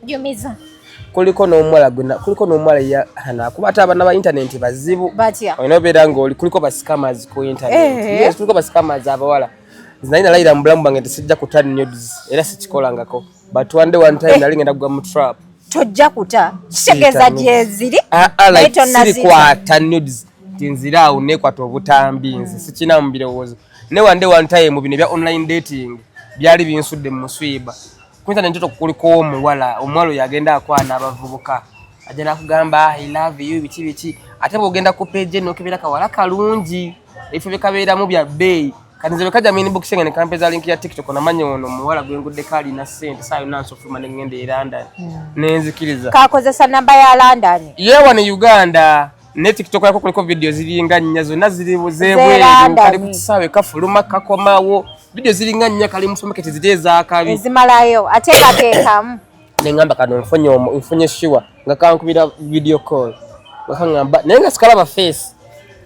Jumiza. Kuliko n'omuwala gwena kuliko n'omuwala ya hana kuba ate abana ba internet bazibu. Batya. Oyina obeera ng'oli kuliko ba scammers ku internet. Eh, eh. Yes, kuliko ba scammers abawala. Zinayina layira mu bulamu bwange tesijja kuta nudes era sikikolangako. But one day one time eh. nali ngenda kugwa mu trap. Tojja kuta. Kitegeeza gyeziri. Ah, ah, like, sirikwata nudes. kati nzira awo nekwata obutambi nze sikina mu birowoozo ne wande one time bino ebya online dating byali binsudde mu muswiba ku internet ntoto kuliko omuwala omuwala oyo agenda akwana abavubuka ajja nakugamba ah, i love you biki biki ate bwogenda ku page eno okebera kawala kalungi ebifo byekabeeramu bya bbeeyi kati nze bwekajja mu inbox nga nekampeza link ya tiktok namanya ono omuwala gwenguddeko alina sente saayo nansofuluma nengenda e london hmm. nenzikiriza kakozesa namba ya london yewa ne uganda ne tiktok yako kuliko video ziringa nnya zonna ziri zebweru kali ku kisaawe kafuluma kakomawo video ziringa nnya kali mu supermarket ziri ezakabi ezimalayo ate kateekamu ne ngamba kano nfunye omu nfunye shiwa nga kankubira video call nga kangamba naye nga sikalaba face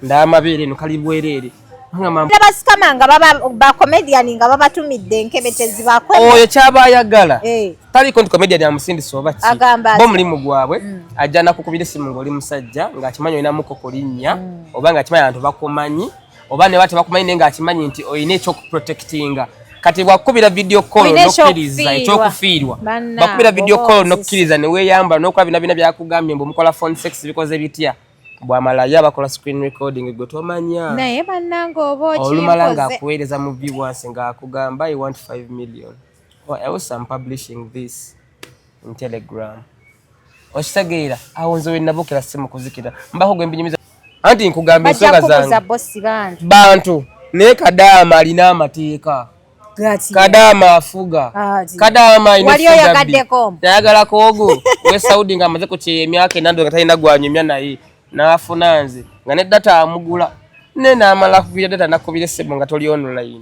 ndaba amabeere eno kali bwereere basikama nga baba bacomedian nga babatumidde enkebe tezibakola oyo kyaba ayagala eh. tali content comedian ya musindi soba ki agamba bo mulimu gwabwe mm. ajja nakukubira simu ngoli musajja nga akimanyo ina muko kolinya mm. oba nga akimanyo abantu bakumanyi oba ne bate bakumanyi nenga akimanyi nti oyina ekyo ku protectinga kati bwakubira video call nokiriza ekyo kufiirwa bakubira video call nokiriza ne weyamba nokuba bina bina byakugambye mbu mukola phone sex bikoze bitya bwamalaya bakola screen recording gwe tomanya naye banange oba olumala ngaakuweereza mu viewers ngaakugamba i want 5 million Well, I also am publishing this in Telegram. Okitegeera awo nze wenabukira simu kuzikira mbako gwe mbinyumiza anti nkugamba ensonga zange bantu naye kadaama alina amateeka kadaama afuga kadaama ayagala kogo we saudi nga amaze kukyeya emyaka enando nga talina gwanyumya naye nafuna nze nga ne data amugula ne namala kugira data nakubira esimu nga toli online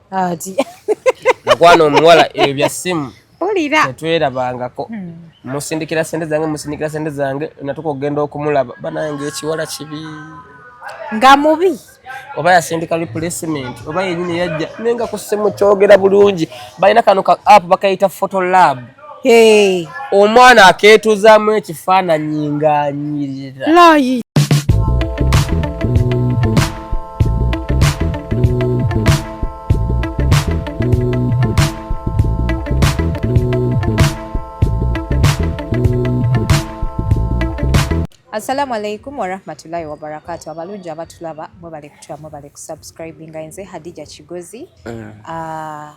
ati mukwana omuwala ebyo bya simu mpulira tetwerabangako hmm. musindikira sente zange musindikira sente zange natuka okugenda okumulaba banange ekiwala kibi nga mubi oba yasindika replacement oba yenyini yajja naye nga kusimu kyogera bulungi balina kano ka app bakayita photo lab Hey. Omwana akeetuzamu ekifaananyi ng'anyirira. Assalamu alaikum warahmatullahi wabarakatu abalungi abatulaba mwebale kutula mwebale kusubscribinga nze Hadija Kigozi mm. uh,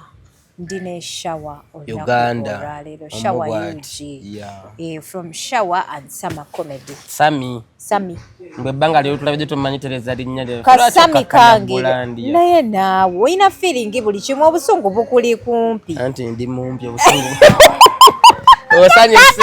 ndi ne shower Uganda lero shower UG yeah. eh, from shower and summer comedy Sami Sami mbe banga lero tulabye tumanyi tereza linya lero ka Sami kange naye naawe olina feeling buli kimu obusungu bukuli kumpi anti ndi mumpi obusungu osanyuse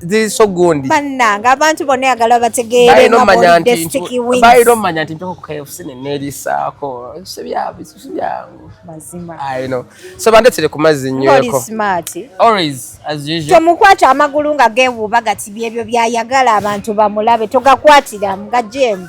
ziri so gundi bannanga abantu bonna yagala bategeere bayina omanya nti ntoko kfc nenerisaako sibyangu mazima so bandetire ku mazzi nyweko tomukwata amagulu nga gewuuba gati byebyo byayagala abantu bamulabe togakwatiramu nga jemu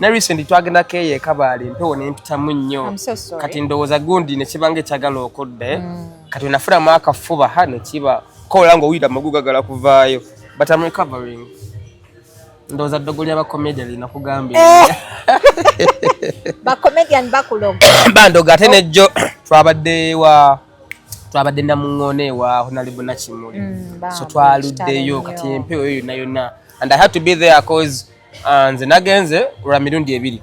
ne recent twagenda keye kabaali mpewo nempitamu nnyo kati ndowooza gundi nekibanga ekyagala okudde mm. kati nafulamu akafuba ha nekiba kola nga owulira amagu gagala kuvaayo but am recovering ndowooza ddogo lya bacomedian linakugambye eh. bacomedian bakuloga bandoga ate nejjo oh. twabadde wa twabadde namuŋoona ewa honalibu nakimuli mm, so twaluddeyo kati empewo eyo yonna yonna and i had to be there cause Ah, nze nagenze lwa mirundi ebiri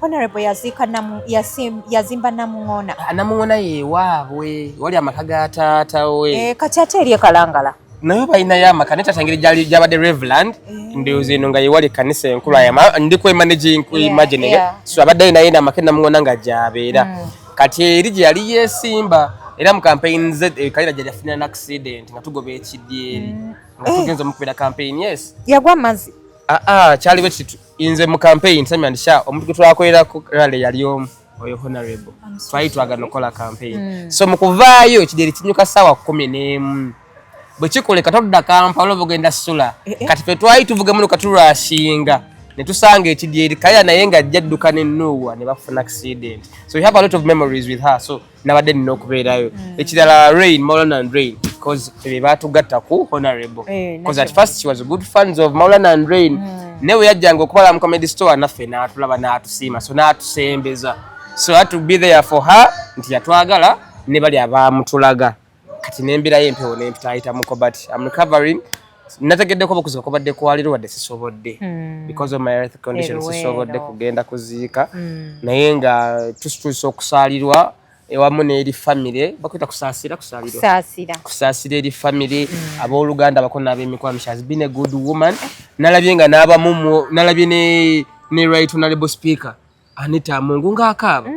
yazimba namuŋona ah, namuŋona yewaabwe wali amaka ga taata we eh, kati ate eri ekalangala naye balinayo amaka naye tatangeri gyabadde reveland eh. ndowooza eno nga yewali ekanisa enkulu ayama ndi kwemanagingimagine so abadde alinayo namaka enamuŋona nga gyabeera mm. kati eri gye yali yesimba era mu campaign z eh, kalira gyali afunira n accident nga tugoba ekidyeri mm. nga tugenza omukubeera campaign yes yagwa amazi aa ah, ah, kyali bwe kitu inze mu campaign sami and sha omuntu gwe twakolera ku rally yali omu oyo honorable twali twagala okukola campaign hmm. so mu kuvaayo kideri kinyuka sawa kumi n'emu bwe kikoleka todda kampala oba ogenda sula eh, eh. kati fe twali tuvuga muno katulwashinga ne tusanga ekidyeri kaya naye nga ajja dduka ne nuuwa ne bafuna accident so we have a lot of memories with her so nabadde nina okubeerayo mm. ekirala rain molan and rain because be batugatta ku honorable eh, because at first she was good fans of molan and rain mm. naye weyajjanga okubala mu comedy store naffe n'atulaba n'atusiima so n'atusembeza so had to be there for her nti yatwagala ne bali abaamutulaga kati n'embeera y'empewo nempitaayita muko but am recovering nategeddeko obukuzibu kubadde kwaliro wadde sisobodde hmm. because of my health condition sisobodde kugenda kuziika hmm. naye nga tusituusa okusaalirwa ewamu n'eri famire bakwita kusaasira kusaasira eri famire hmm. abooluganda bako n'abemikwano she has been a good woman nalabye nga n'abamu nalabye ne right honorable speaker anita mungu ng'akaaba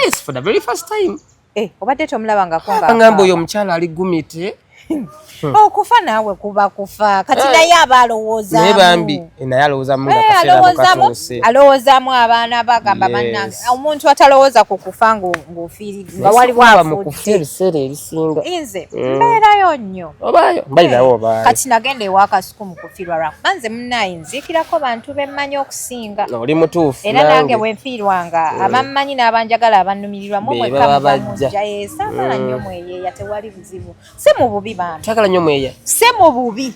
yes for the very first time Eh, obadde tomulaba nga konga. Ngamba oyo omukyala ali gumite. okufa oh, naawe kuba kufa kati eh. naye aba alowoozamu bambi eh, naye alowoozamu eh, alowoozamu abaana bagamba bannange omuntu atalowooza ku kufa ng'ofiiridwa waliwo afuukufa ebiseera ebisinga nze mm. mbeerayo nnyo kati nagenda ewakasu kumukufirwa lwakuba nze munaye nziikirako bantu bemmanyi okusinga oli mutuufu era nange wenfiirwanga eh. abammanyi n'abanjagala abannumirirwa mumwekamujjaye saagala nnyo mm. mweyeeya tewali buzibu si mu bubi bantu saagala nnyo mweyeeya si mu bubi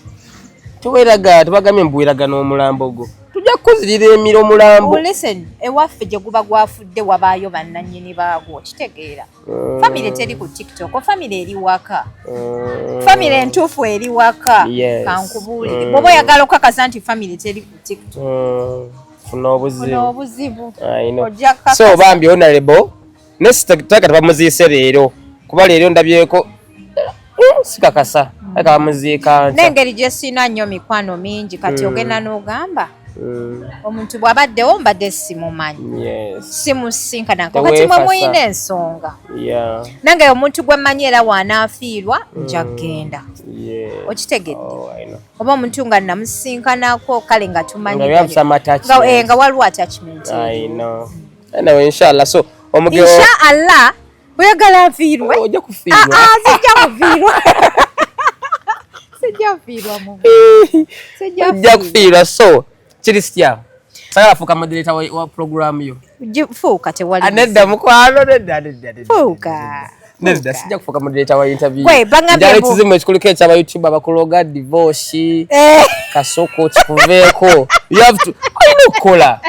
tuweraga tubagambye mbuweraga n'omulambo gwo tujja kukuzirira emira omulambo listen ewaffe gye guba gwafudde wabaayo bannannyini baagwo kitegeera Mm. Family teri ku TikTok, oh, family eri waka. Mm. Family entufu eri waka. Yes. Kankubuli. Mm. Bobo yagala okakasa nti family teri ku TikTok. Mm. Funa obuzibu. Funa obuzibu. I know. So bambi honorable. Nesta taka tabamuziise leero. Kuba leero ndabyeko Eh, sikakasa aka bamuziika n'engeri gye siina nnyo mikwano mingi kati hmm. ogenda n'ogamba hmm. omuntu bw'abaddewo mbadde simumanyi simusinkanako kati mwe muyina ensonga nange omuntu gwe mmanyi era waanaafiirwa hmm. nja kugenda okitegedde oh, oba omuntu nga namusinkanako kale nga tumanyinga eh, waliwo attachment inshallah oyagala nfiirwe ojja ah, kufiirwa ah, sijja kufiirwa sijja kufiirwa mu sijja kufiirwa so kiri sitya sagala fuuka moderator wa program yo fuuka tewali ah, nedda mukwano nedda nedda nedda fuuka nedda sijja kufuuka moderator wa interview gwe bangambye njala ekizimu ekikuliko ekyaba youtube abakuloga divorce eh. kasoko kikuveeko you have to olina okukola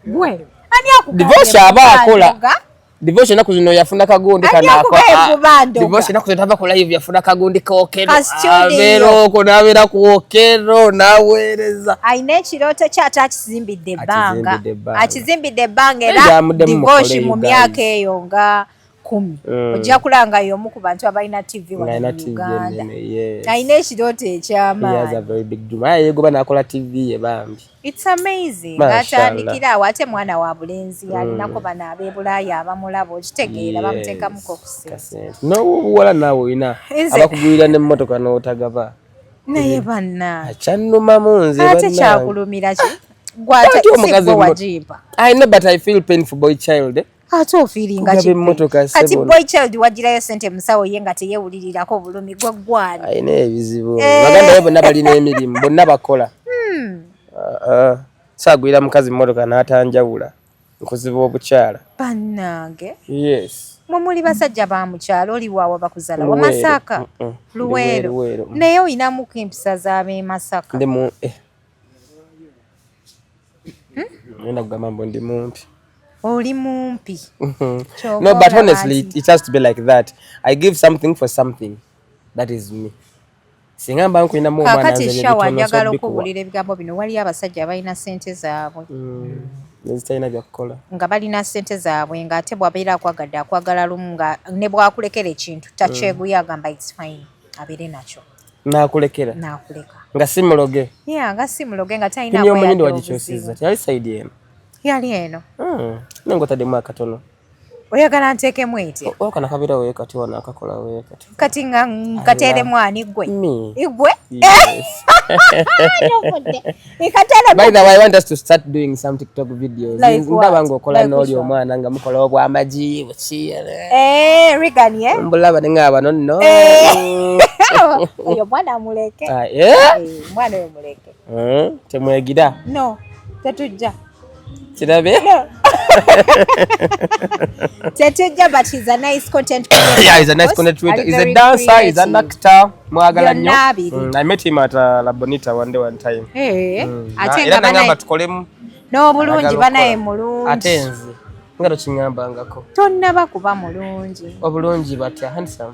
Gwe. Ani akugambye? Divorce aba akola. Devotion naku zino yafuna kagundi kana kwa ah, Devotion naku zino tava kula hivi yafuna kagundi kokero Avero kuna avira kuokero na wereza Aine chiroto cha ata achizimbi de banga Achizimbi de banga era Devotion mumiaka eyo nga kumi mm. Ojia kula nga yomu kubantua ba ina TV wa ina TV Uganda yes. Aine chiroto cha man He has a very big dream Aye goba na akula TV ye bambi It's amazing. Atandikira awo ate mwana wa bulenzi mm. alinako bana abe Bulaaya abamulaba okitegeera bamuteekamu ko kusente. N'obuwala naawe olina abakugulira n'emmotoka n'otagaba. Naye banna. Akyannumamu nze banna. Ate kyakulumira ki? Gwata omukazi wajimpa. I know but I feel pain for boy child. Eh? ate ofiiringa kati boy child wagirayo sente musawo ye nga teyewulirirako obulumi gwe gwani alina ebizibu eh. baganda be bonna balina emirimu bonna bakola hmm. ah, ah. saagwira mukazi mmotoka n'atanjawula nkuziba obukyala bannange yes mwe muli basajja ba mukyalo oli waawa bakuzala wa masaka luweero naye olinamuko empisa z'ab'emasaka eh. Nenda hmm? kugamba mbu ndi mumpi. Oli mumpi. No, but honestly, it has to be like that. I give something for something. That is me. Singa mba nkulina mu omwana nze ne shawa njagala okubulira ebigambo bino waliyo abasajja abalina sente zaabwe. Mm. Nezitalina bya kukola. Nga balina sente zaabwe nga ate bwabeera akwagadde akwagala lumu nga ne bwakulekera ekintu takyeguya mm. agamba it's fine abeere nakyo. nakulekera nakuleka nga si muloge yeah nga si muloge nga talina kinyo omunyindo wagikyusiza teyali sayidi eno yali eno hmm. naye ngotademu akatono oyagala nteekemu eti okana kabira we kati wano akakola we kati kati nga nkateeremu ani gwe igwe By the way, I want us to start doing some TikTok videos. Like ndaba ngokola n'oli omwana nga mukola obwamagi eh, Regan eh? mbulaba ne nga bano nno eh. oyo mwana muleke ah, eh? mwana oyo muleke temwegira no tetujja kirabeera tetujja but he's a nice content creator yeah he's a nice content creator he's a dancer creative. he's an actor mwagala nnyo mm, i met him at uh, la bonita one day one time hey, eh, mm. ate nga bana tukolemu n'obulungi banaye mulungi ate nze nga tokingambangako tonnaba kuba mulungi obulungi batya handsome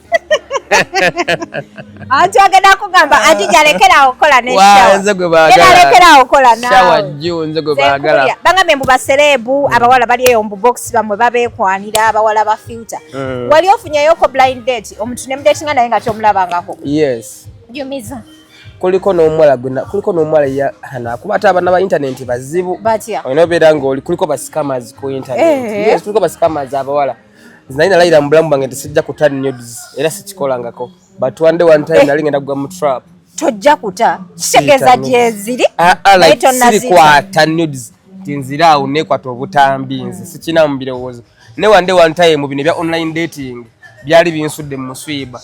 anti agenda kugamba anti jalekerawo okukola neshawajalekerawo okukola nawebagambe mbu basereebu mm. abawala bali eyo mbu box bamwe babekwanira abawala ba filter mm. wali ofunyayoko blind date omuntu nemudetinga naye nga tomulabangako yes jumiza kuliko n'omuwala gwena kuliko n'omuwala ya hana kuba ate abana ba internet bazibu olina obeera ng'oli kuliko ba scammers ku internet eh. yes kuliko ba scammers abawala naye nalayira mu bulamu bwange nti sijja kuta nudes era sikikolangako but one day one time eh. nali ngenda kugwa mu trap tojja kuta kitegeeza gyeziri ah, ah, naye tonasirikwata nudes nti nzira awo nekwata obutambi nze sikina mu birowoozo ne one day one time bino ebya online dating byali binsudde mu muswiba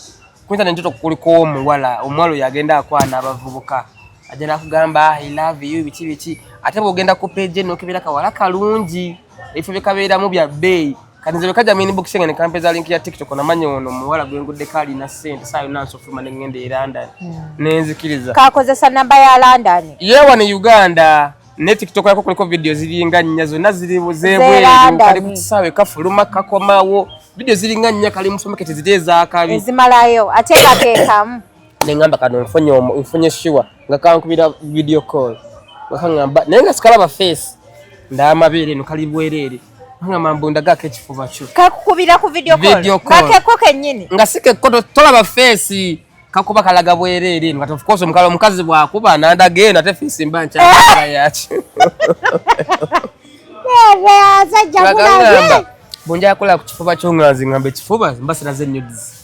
kuyinza nenjoto kuliko omuwala omuwala oyo agenda akwana abavubuka ajja nakugamba ah, i love you biki biki ate bwogenda ku page nokebera kawala kalungi ebifo bye kabeeramu bya bbeeyi kati nze bwekajja mu inbox nga nekampeza link ya tiktok namanya ono muwala gwenguddeko alina sente saa yonna nsofuluma ne ngenda e london hmm. nenzikiriza kakozesa namba ya london yewa ne uganda ne tiktok yako kuliko vidiyo ziringa nnya zonna ziri zebweru kali ku kisaawe kafuluma kakomawo vidiyo ziringa nnya kali musomekete ziri ezakabi ezimalayo ate kateekamu nengamba kano nfunye nfunye shiwa nga kankubira video call wakangamba naye nga sikalaba face ndamabeere no kali bwerere nga mambo ndagako ekifuba kyo kakukubira ku video call kakeko kenyini nga sikeko tolaba face kakuba kalaga bwerere nga of course omukalo omukazi bwakuba nandagenda ate face mba nkyakala yaki bunjakola ku kifuba kyo nga nze ngamba ekifuba mba sinaze nudes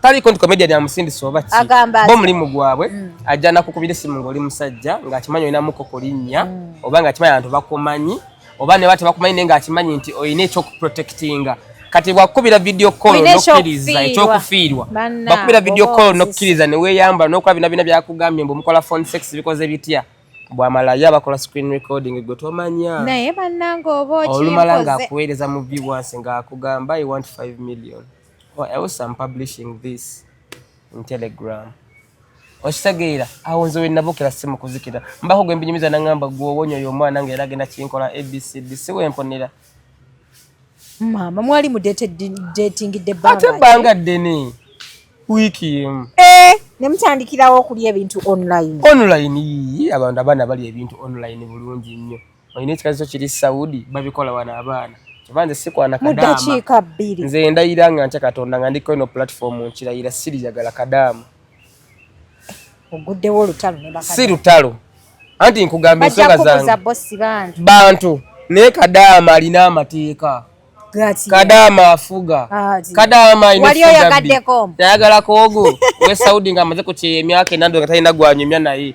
tali content comedian ya musindi soba ki agamba bo mulimu gwabwe mm. ajja nakukubira simu ngoli musajja nga akimanyo ina muko kolinya mm. oba nga akimanyo abantu bakomanyi oba ne bate bakumanyi nenga akimanyi nti oyina ekyo ku protectinga kati wakubira video call no kiriza ekyo kufiirwa bakubira video call no kiriza ne weyamba no kwa bina bina bya kugambye mbu mukola phone sex bikoze bitya bwamalaya bakola screen recording gwe tomanya naye bananga oba okikoze olumala nga kuwereza mu viewers nga akugamba i want 5 million Well, else I'm publishing this in Telegram. Okitegeera awo nze wenabukira si mukuzikira mbako gwe mbinyumiza nangamba gwowonya oyo omwana nga era agenda kinkola abcd si wemponera maama mwali mudetingidde ate ebbanga ddene wiiki emu eh, ne mutandikirawo okulya ebintu online online yii abantu abaana balya ebintu online bulungi nnyo olina ekikaziso kiri saudi babikola wano abaana oba nze sikwana kadaama nze ndayira nga ntya katonda nga ndiko ino platform nkirayira sirijagala kadaama oguddewo olutalo si lutalo anti nkugamba ensonga zange bantu naye kadaama alina amateeka kadaama afuga ah, kadaama ayinayagala kogo we saudi nga amaze ku kyeyo emyaka enando nga talina gwanyumya naye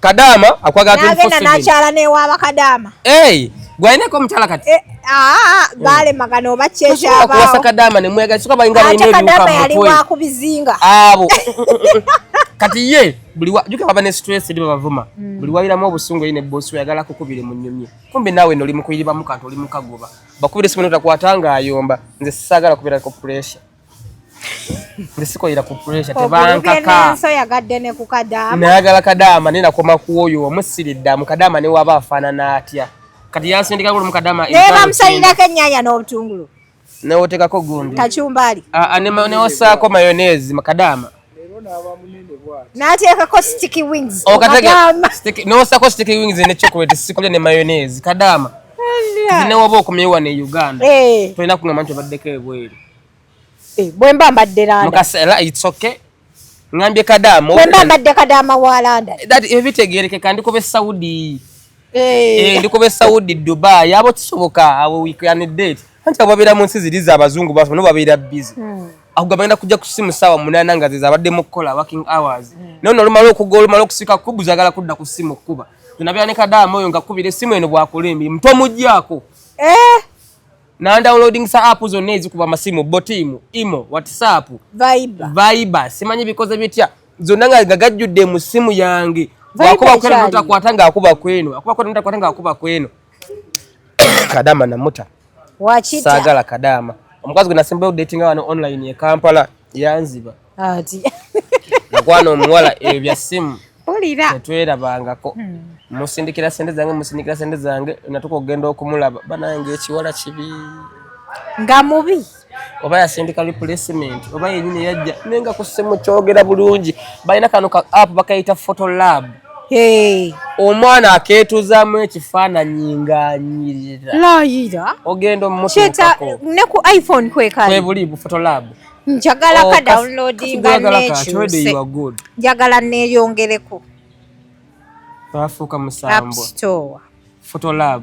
Kadama akwagala 24/7. Nagenda nakyala ne wa bakadama. Hey, gwaine ko mtala kati. Eh, ah, gale mm. magano oba checha ba. Akwasa kadama ne mwega suka bainga ne ne. Kadama yali wa kubizinga. Abo. Kati ye buli wa juka baba ne stress ndi bavuma. Mm. Buli wayira mu obusungu ine boss we yagala kukubire mu nyumye. Kumbe nawe noli mukuyiriba mukantu oli mukagoba. Bakubire simu notakwatanga ayomba. Nze sagala kubira ko pressure. ndisikoyira ku pressure tebankaka so yagadde ne ku kadaama nayagala kadaama ne nakoma ku oyo omusiridda mu kadaama ne waba afaanana atya kati yansindika gulu mu kadaama ne bamusayirako ennyanya n'obutungulu newotekako gundi kachumbali ah, ah, newosaako mayonezi mu kadaama n'ateekako sticky wings n'osako sticky wings ne chocolate sikulya ne mayonnaise kadaama zinewaba okomyewo wano e uganda eh. tolina kungamba nti obaddeko ebweru eh, bwemba mbadde landamukasela its okay ngambye kadaama bwemba mbadde kadaama wa landa ebitegerekeka ndikuba esaudi Eh, ndi kuba esaudi dubai abo kisoboka abo we can date anti abo babeera mu nsi ziri za bazungu basobola no babeera busy hmm. ago bagenda kujja ku simu saawa munaana nga zezabadde mu kukola working hours hmm. naye no olumala okuga olumala okusika kubu zagala kudda ku simu kuba nabeera ne kadaama oyo nga kubira esimu eno bwakola emirimu tomugyako eh? nandownloading sa app zonna ezikuba amasimu botiimu imo whatsapp viber simanyi bikoze bitya zonna nga gajjudde mu ssimu yange wakubakwata ngaakuba kweno akubakwata ngaakuba kweno kadama namuta saagala kadama omukazi gwe nasembayo datinga wano online e kampala yanziba ati nakwana omuwala ebyo bya ssimu tetwerabangako hmm. musindikira sente zange musindikira sente zange natuka okugenda okumulaba banange ekiwala kibi nga mubi oba yasindika replacement oba yenyini yajja naye nga kusimu kyogera bulungi balina kano ka app bakayita photo lab hey. omwana aketuzamu ekifaananyi nganyirira layira ogenda omutuukako ne ku iphone kwekali kwebuli bu photo lab njagala oh, ka downloadinga nekyuse njagala neyongereko bafuuka musambwa photo lab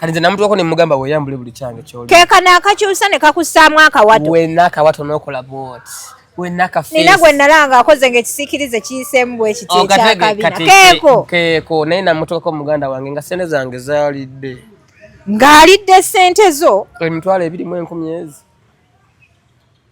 kati nze namutuwako nemugamba weyambule buli kyange kyoli kekano akakyusa ne kakussaamu akawato wena akawato nokola bwoti nina gwe nalanga akoze nga ekisikirize kiyiseemu bwekiti oh, ekyakabina keeko keeko naye namutuwako muganda wange nga sente zange zalidde ng'alidde sente zo emitwalo ebirimu enkumi ezi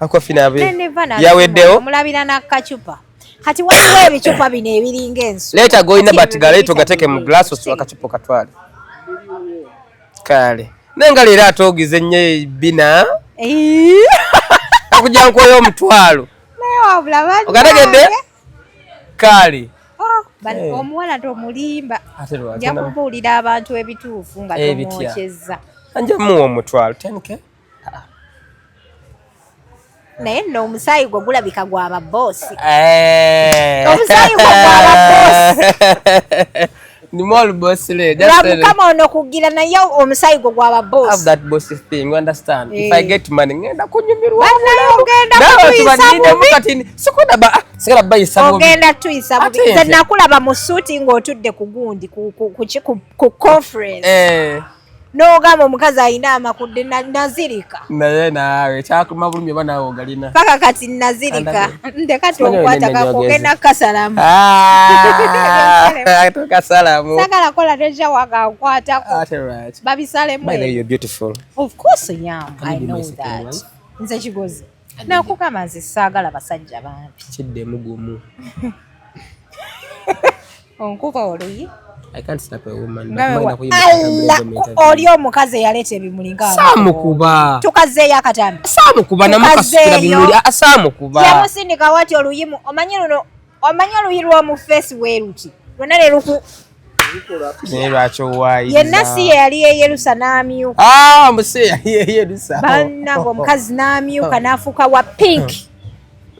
Ako fina abe. Yaweddewo. Mulabira na kachupa. Kati waliwo ebicupa bino ebiringa ensu. Leta go ina but galeto gateke mu glass osu akacupa katwale. Kale. Nenga lera atogize nye bina. Eh. Akuja nkoyo mtwalo. Nayo wabula bani. Ogategede? Kale. Bano eh. omuwala tomulimba nja kubuulira abantu ebituufu nga eh, tomwokyezza nja muwa omutwalo 10k naye nno omusaayi gwo gulabika gwa babboosi eh. omusaayi gwo gwa babboosi lwamukama ono kugira naye omusaayi gwo gwa babboosigenda kunyumirwaogenda tuyisa bubi nze nakulaba mu suuti ng'otudde ku gundi ku conference eh. nogamba omukazi alina amakudde nazirika naye naawe kyakuma bulumi oba naawe ogalina paka kati nazirika ndekatokwata kakugenda kukasalamu ah, kasalamu sagala kola teja wakankwatako ah, babisalemu nze kigozi nakugamba nze saagala basajja bambi kiddemu gumu onkuba oluyi oli omukazi eyaleeta ebimuli ngasamukubatukazzeeyo akatambi samukuba namukasikira bimuli asamukuba yamusindika wati oluyimu omanyi luno omanyi oluyi lw'omu feesi bwe luti lwonna ne luku naye lwaki owaayi yenna si ye yali yeyerusa n'amyuka ah, muse yali yeyerusa bannange omukazi n'amyuka n'afuuka wa pink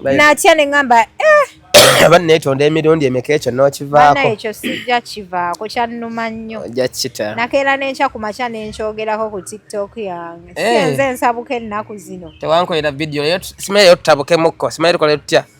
natya ne ŋŋamba eh! aba neetonda emirundi emeka ekyo n'okivaako ekyo sijja kivaako kyannuma nnyo ojja kukita nakeera n'enkya ku makya ne nkyogerako ku tiktok yange eh. si enze nsabuka ennaku zino tewankolera vidiyo simanyi leero tutabukemukko simanyi tukolera tutya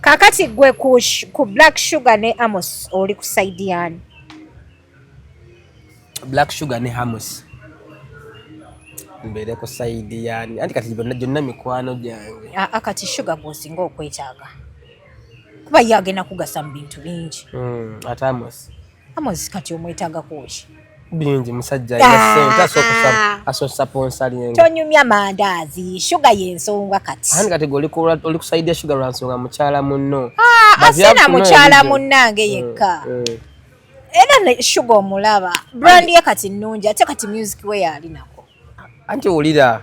kakati gwe ku, ku black sugar ne amos oli ku saidi yani black sugar ne amos mbeere ku saidi yani anti kati byonna gyonna mikwano gyange aa kati sugar gwosinga okwetaaga kuba ye agenda kugasa mu bintu bingi mm, ate amos Amozi kati omwetaga kuki? Bingi musajja ya ah. sente asokusa asokusa ponsali yenga. Tonyumya mandazi, sugar yensonga kati. Hani kati goli ko oli kusaidia sugar ransonga muchala munno. Ah, asina muchala munnange mm, yekka. Mm. Era ne sugar omulaba. Brand ye kati nnungi ate kati music we yali nako. Anti ulira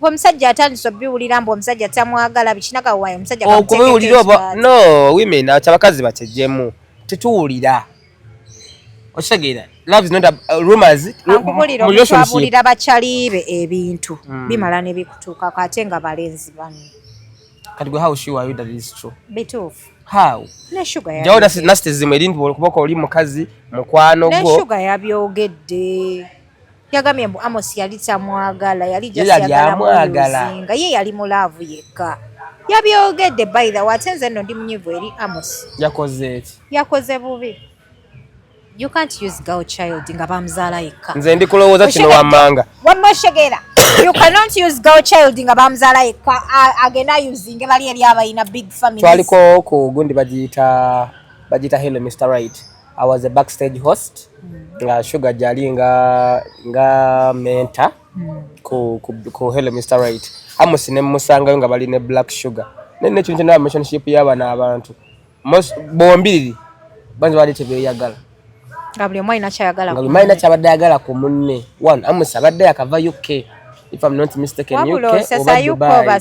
omusajja atandise obiwulira mbu omusajja tamwagala bikinagawayo omusajja okubiwulira oba no women ati abakazi bakyejjemu tetuwulira okitegeera love is not a uh, rumors mubulira bakyalibe ebintu hmm. bimala nebikutuukako ate nga balenzi bano kati gwe how sure are you that it is true bituufu how jawo nasitezimu erinti olukuboko oli mukazi mukwano gwo sugar yabyogedde yagambye mbu Amos yali tamwagala yali jasyagalamuzinga ye yali mulaavu yekka yabyogedde by the way ate nze nno ndi munyivu eri Amos yakoze eki yakoze bubi you can't use girl child nga bamuzaala yekka nze ndi kulowooza kino wammanga wamma oshegera you cannot use girl child nga bamuzaala yekka agenda usinge bali eri abalina big family twaliko ku gundi bagiyita bagiyita hello mr right I was a backstage host mm. nga Sugar jali nga nga mentor mm. ku, ku, ku Hello Mr. Right Amos ne musangayo nga bali ne Black Sugar ne ne kintu na relationship yaba na abantu most bombiriri banze bali tebeyagala nga buli omwai nakyayagala nga buli omwai nakyabadde ayagala ku munne one Amos abadde yakava UK if I'm not mistaken UK oba Dubai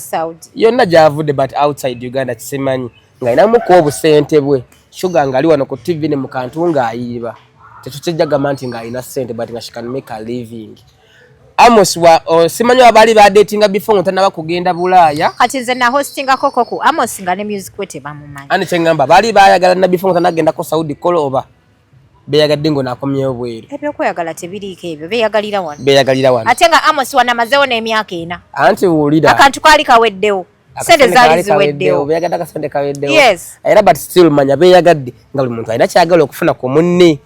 yonna gyavudde but outside Uganda kisimanyi ng'alinamu ku obusente bwe shuga ng'ali wano ku tv ne mu kantu ng'ayiiba tetukijja gamba nti ng'alina sente but nga she can make a living Amos wa oh, simanyo abali ba dating before ngo tanaba kugenda bulaya kati nze na hosting ako koko Amos nga ne music wete bamumanyi ani chengamba bali bayagala na before ngo tanagenda ko Saudi kolo oba beyagadde ngo nakomye obweru ebyo koyagala tebirike ebyo beyagalira wano beyagalira wano atenga Amos wana mazeo na emyaka ena anti wulira akantu kali kaweddewo sente zaali ziweddewo beyagadde akasente kaweddewo yes era but still manya beyagadde nga buli muntu alina kyagala okufuna ku munne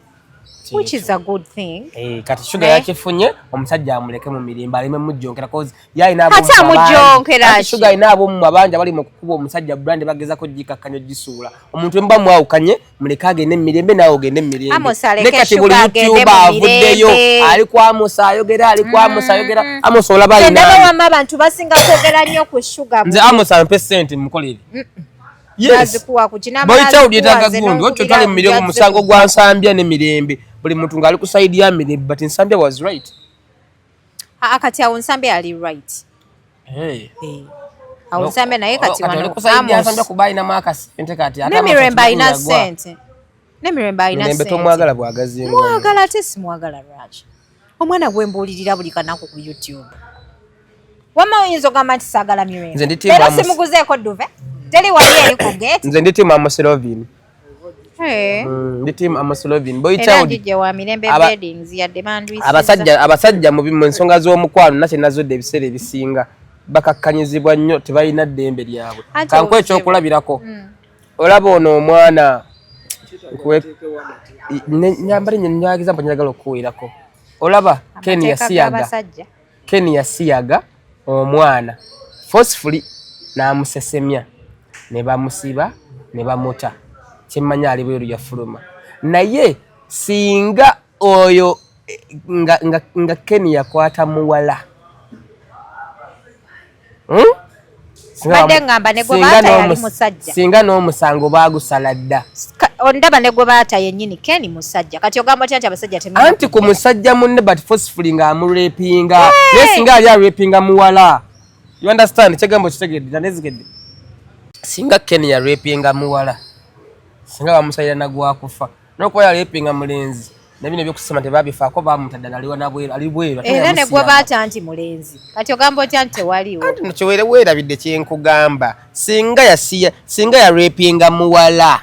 which is a good thing eh kati sugar eh? yakifunye omusajja amuleke mu mirimba alime mujjonkera cause yayi nabo kati amujjonkera ki sugar inabo mu mabanja bali mukukuba omusajja brand bageza ko jikakkanyo jisuula omuntu emba mwawukanye muleke agende mu mirembe naawe ogende mu mirembene kati buli mutyuba avuddeyo ali ku amosi ayogera ali ku amosi mm-hmm. ayogera amosi olaba alinaawamma abantu basinga kwogera nnyo ku shuga nze amosi ampe sente mukolere boyitawudi etaga gundi wakyo twali mu mirembe musango gwa nsambya ne mirembe buli muntu ng'ali ku saidi ya mirembe but nsambya was right Haa ah, kati awo nsambe ali right. Hey. Hey. Awo nsambe naye kati wano. Kati kusaidia nsambe kubai na maka sente kati. Ne miremba ina sente. Ne miremba ina sente. Mirembe tomwagala bwagazi. Mwagala ate simwagala Raj. Omwana gwe mbuulirira buli kanaku ku YouTube. Wama oyinza ogamba nti saagala mirembe. Nze ndi timu amusi. Era simuguzeeko duve. Teli wali eri ku gate. Nze ndi timu amusi lovini. Mm, ndi team amaslovin boy child abasajja abasajja mu nsonga z'omukwano nakye nazodde ebiseera ebisinga bakakkanyizibwa nnyo tebalina ddembe lyabwe kanku ekyokulabirako mm. olaba ono omwana nyambala nyo nyagiza mpa nyagala okukuwirako olaba ken yasiyaga Ken yasiyaga omwana forcefully n'amusesemya ne bamusiba ne bamuta kyemmanyi ali bweru yafuluma naye singa oyo nga, nga, nga Ken yakwata muwala hmm? singa n'omusango bagusala dda ondaba ne gwe baata yennyini keni musajja kati ogamba otya nti abasajja te anti ku musajja munne but forcefully nga amurepinga naye singa ali arepinga muwala you understand kyegambo kitegedde nanezigedde singa keni yarepinga muwala singa bamusalira nagwakufa nokuba yalepinga mulenzi nabino ebyokusoma tebabifaako bamuta ddala aliwa nabweru ali bweru era negwebaata nti mulenzi kati ogamba otya nti tewaliwo kiwere weerabidde kyenkugamba singa yasiya singa yarepinga muwala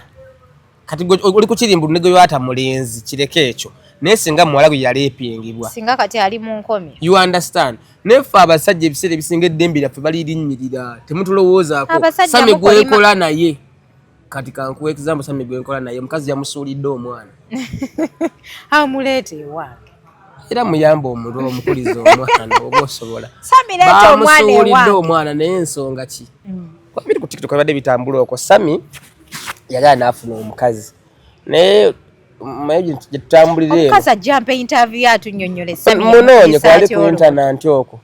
kati oli kukirimbu negeyoata mulenzi kireke ekyo naye singa muwala gwe yalepingibwa singa kati ali mu nkomi you understand nefe abasajja ebiseera ebisinga eddembe lyaffe balirinnyirira temutulowoozako sami gwekola naye kati kankuwa example sami gwe nkola naye omukazi yamusuulidde omwana amuleeta ewange era muyamba omuntu omukuliza omwana oba osobola bamusuulidde omwana naye ensonga ki mm. kwabiri ku tiktok abadde bitambula okwo sami yali anaafuna omukazi naye gyetutambuliraeomukazi ajja mpa interview atunyonyole munoonye kwali ku intananti okwo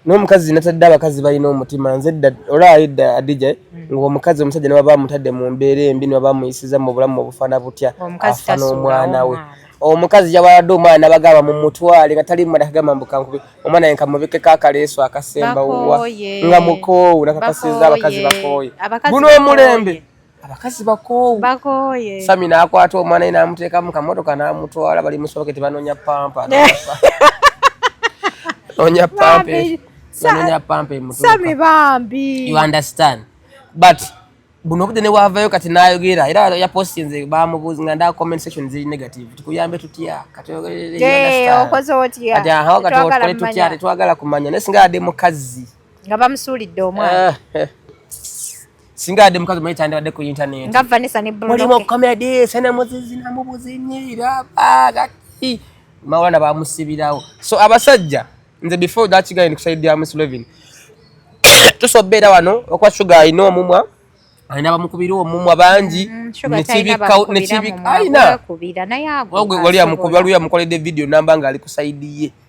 n'omukazi natadde abakazi balina omutima nze dda olaba edda adija eh? hmm. ngaomukazi omusajja ne baba amutadde mu mbeera embi ne baba amuyisiza mu bulamu obufaana butya afa n'omwana we omukazi yabaladde omwana nabagamba mumutwale nga tali mumada kagamba mbukankube omwana ye nkamubikeko akaleeso akasemba wuwa nga mukoowu nakakasiza abakazi bakooye guno omulembe abakazi bakoowu bakooye sami n'akwata omwana ye n'amuteeka mu kamotoka n'amutwala bali musoboke tebanoonya pampa noonya pampa noonya pampa emusami bambi you understand but buno obudde newaavayo kati n'ayogera era yapostinze bamubuuzi nga ndaa comment section ziri negative tukuyambe tutya katogerereokozeotyakatokole tutya tetwagala kumanya naye singa yadde mukazzi nga bamusuulidde omwana eh, eh. singa yadde mukazi omanyi kyandibadde ku intaneti nga vanessa ne bruno mulimu comedy sena muzizi na mubuzinyi raba gati mawulana bamusibirawo so abasajja nze before that guy ndikusaidia muslevin tusobera wano okuba sugar alina omumwa alina bamukubira omumwa bangi mm, nekibikainawali amukoledde vidiyo namba nga ali ku saidi ye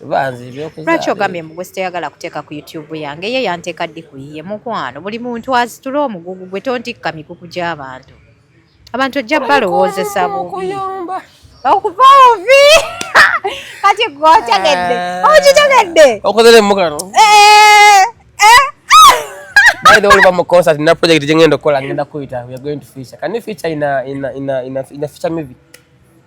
lwaki ogambye mbu gwesitayagala kuteeka ku youtube yange ye yanteeka ddi ku yiye mukwano buli muntu asitula omugugu gwe tontikka mikuku gy'abantu abantu ojja balowoozesa bubi okuvaawo vi kati gwe otegedde eh. okitegedde okozere mukano eh, eh. By the way, I'm a concert in a project jengendo kola ngenda kuita. We are going to feature. Can you feature in a in a in a in a, in a feature movie?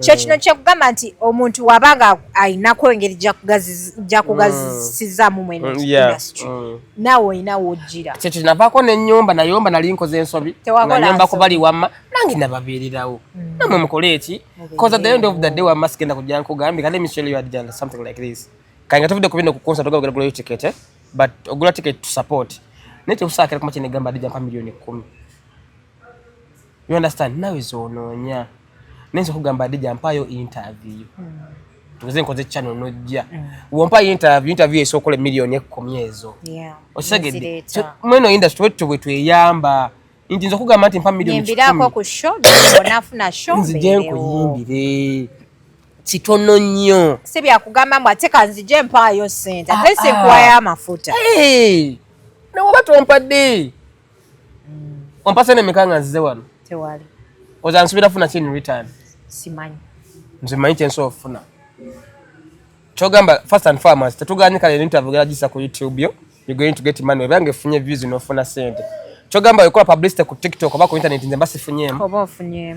kyo kino kyekugamba nti omuntu waba nga ayinako engeri jakugazisizamu mwene mm, industry mm. naawe olina wojjira kyekyo navaako nenyumba nayomba nali nkoze ensobi nayomba kubali wamma nange nababeererawo mm. namwe mukole eki bcause at the end of the day wamma sigenda kujja nkugambye kale michel you had done something like this kanga tuvudde kubino kukonsa toga ogera gulayo ticket eh? but ogula ticket to support naye tekusaakira kuma kyenegamba adija mpa miliyoni kumi You understand? Nawe zonoonya. Nenzo kugamba Adija mpayo interview. Mm. Tukuze nkoze channel nojja. Mm. Wompa interview, interview esokola milioni ekumi ezo. Yeah. Osegede. So, mweno industry wetu wetu eyamba. Inti nzo kugamba ati mpa milioni ekumi. Nyembira kwa ku show, bonafu na show. Nzi jen kuyimbire. Kitono nyo. Sibi ya kugamba mwa teka nzi jen mpayo senta. Ah, Tese ah. kuwa ya mafuta. Hey! Na wabatu wampa dee. Wampasa ne mekanga nzize wano. Tewali. Oza nsubira funa chini return. Simanyi. Nze manyi chen so funa. Chogamba first and foremost tetuganye kale ni interview gara jisa ku YouTube yo. You going to get money. Bange funye views no funa sente. Chogamba yokola publicity ku TikTok oba ku internet nze basi funye. Oba funye.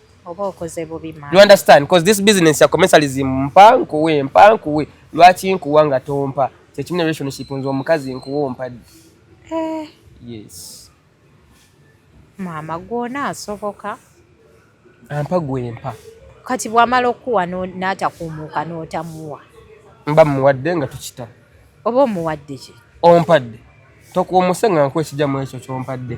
oba okoze bubi man. You understand? Because this business ya commercialism mpa nkuwe mpa nkuwe lwaki nkuwa nga tompa kyekimu ne relationship nze omukazi nkuwa ompadde eh. yes maama gwona asoboka ampa gwempa kati bwamala okuwa n'atakuumuuka n'otamuwa mba muwadde nga tukita oba omuwadde ki ompadde tokuomuse nga nkuwa ekijamu ekyo kyompadde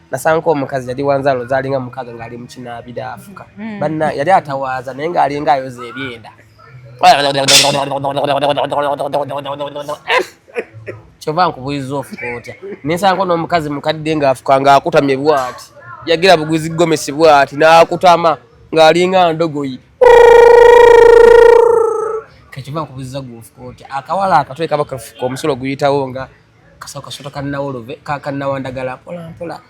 nasanga omukazi yali wanzalo zalinga mukaga ngali mukinabira afuka mm. banna yali atawaza naye ngalinga ayoza ebyenda kyova nkubuliza ofuka otya nesanga nomukazi mukadde ngaafuka ngaakutamye bwati yagira buguzi gomesi bwati nakutama ngalinga ndogoyi kakivaa kubuziza gwofuka otya akawala akatwe kaba kafuka omusolo guyitawo nga kasawo kasota kanawolove kakanawandagala mpola mpola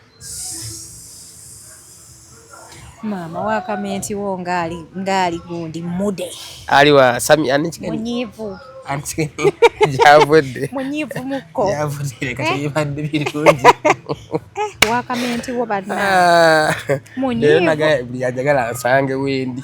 maama wakamenti wo ngaali ngaali gundi mude ali wa sami anikigani munyivu anikigani javudde munyivu muko javudde kati eh? yibadde birungi eh, wakamenti wo banna ah. munyivu naga buli ajagala nsange wendi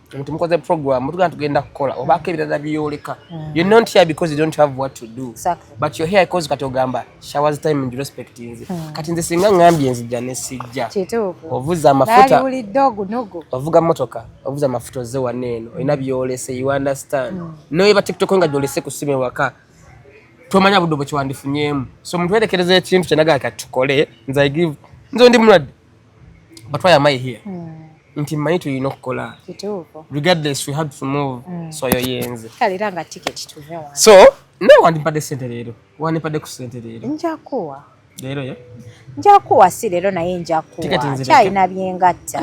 nti mukoze program mutugana tugenda kukola obaako ebirala byoleka mm. you not here because you don't have what to do exactly. but you're here because kati ogamba showers time and respect nze mm. kati nze singa ngambye nzija nesijja ovuza amafuta ovuga motoka ovuza amafuta oze wano eno mm. olina byolese you understand mm. noyeba tiktok nga gyolese kusima ewaka tomanya budde bwekyewandifunyemu so omuntu werekereza ekintu kyenagaa kati tukole nze i give nze ndi mulwadde but why am i here mm. nti mmanyi tulina okukola regardless we had to move mm. so yo yenze kale era nga ticket tuve wano so nawe wandimpadde sente leero wandimpadde ku sente leero njakuwa leero ye njakuwa si leero naye njakuwa kyalina byengatta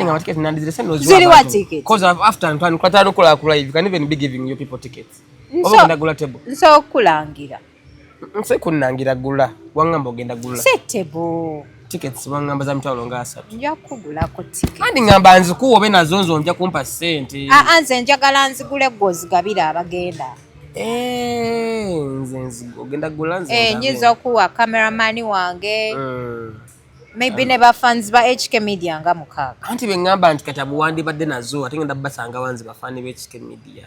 ziriwa ticket cause after ntwani kwatano kola ku live can even be giving you people tickets oba ndagula table nsobola okukulangira Nse kunnangira gula wangamba ogenda gula setebo tickets wangamba za mitwalo nga asatu nja kugulako ticket kandi ngamba nzikuwa obe nazo nzo nja kumpa sente aa ah, ah, nze njagala nzigule gwe ozigabira abagenda eh, nze nzigo ogenda gula nze eh, nyinza okuwa kameramani wange mm. maybe ne bafans ba HK Media nga mukaaga anti bengamba nti kati abuwandibadde nazo ate ngenda basanga wanzi bafani ba HK Media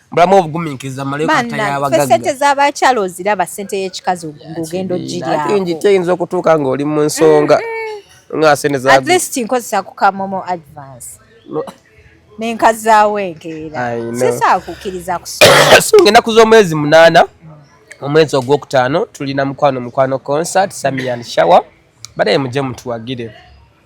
bulamu obuguminkiriza malekatayabagaggasente z'abakyala oziraba sente y'ekikazi ogenda ogiryaingi teyinza okutuuka ng'oli mu nsonga nga sente at least nkozesa ku kamomo advance nenkazaawo enkeera sisaakukiriza kusunga ennaku z'omwezi munaana omwezi ogwokutaano tulina mukwano mukwano concert samian shower badaye muje mutuwagire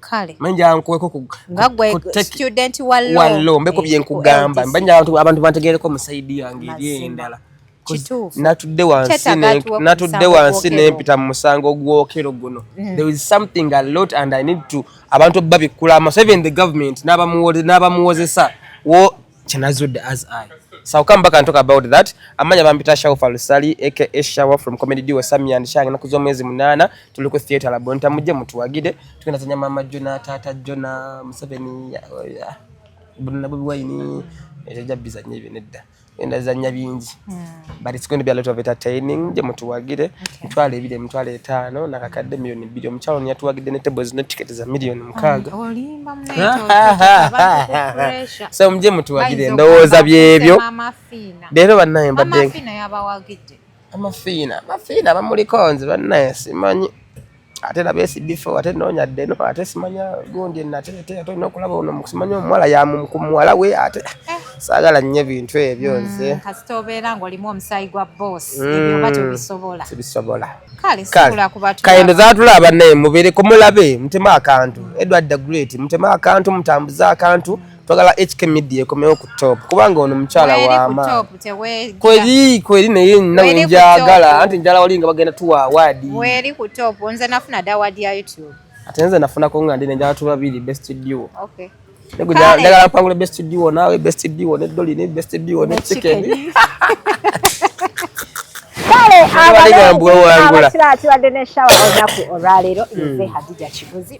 kale manja nkuweko ku nga gwe student wa law wa law mbeko bye nkugamba mbanja abantu abantu bantegereko mu side yange eri endala natudde wansi natudde wansi nempita mu musango gwokero guno mm. there is something a lot and i need to abantu babikkula amaso even the government n'abamuwozesa kyenazudde as i so I'll come back and talk about that amanya bampita shaw falusali aka shawa from comedy duo sami and shang na kuzo mwezi munana tuli ku theater la bonta muje mutuwagide tukina tanya mama jona tata jona museveni bunna bobi wine ejaja bizanye binedda enda zanya bingi yeah. but it's going to be a lot of entertaining je mutuwagire mutwale ebire mutwale etaano nakakadde milioni bbiri omukyalo yatuwagidde ne table zino ticket za milioni mukaaga so muje mutuwagire endowooza byebyo leero bannaye mbadde amafiina amafiina bamulikonze bannaye simanyi ate laba esibifo ate noonya ddeno ate simanya gundi nate ate ate olina okulaba ono simanya omuwala yaku muwala we ate eh. saagala nnyo ebintu ebyo hmm, nze kasita obeera ng'olimu omusaayi gwa boss hmm, ebyoba tobisobola sibisobola kale sikula ku batu kayendo zatulaba naye mubeereko mulabe mutema akantu edward the great mutema akantu mutambuze akantu twagala HK Media ekomewo ku top kubanga ono mukyala wama kweri kweri naye nawe njagala anti njala wali nga bagenda tuwa award weri ku top nze nafuna da award ya YouTube ate nze nafuna ko nga ndi njala tuba bili best duo okay ndagala mpangule best duo nawe best duo ne dolly ne best duo ne chicken kale abalengula kibadde ne shawa olunaku olwaleero nze hmm. hadija kibuzi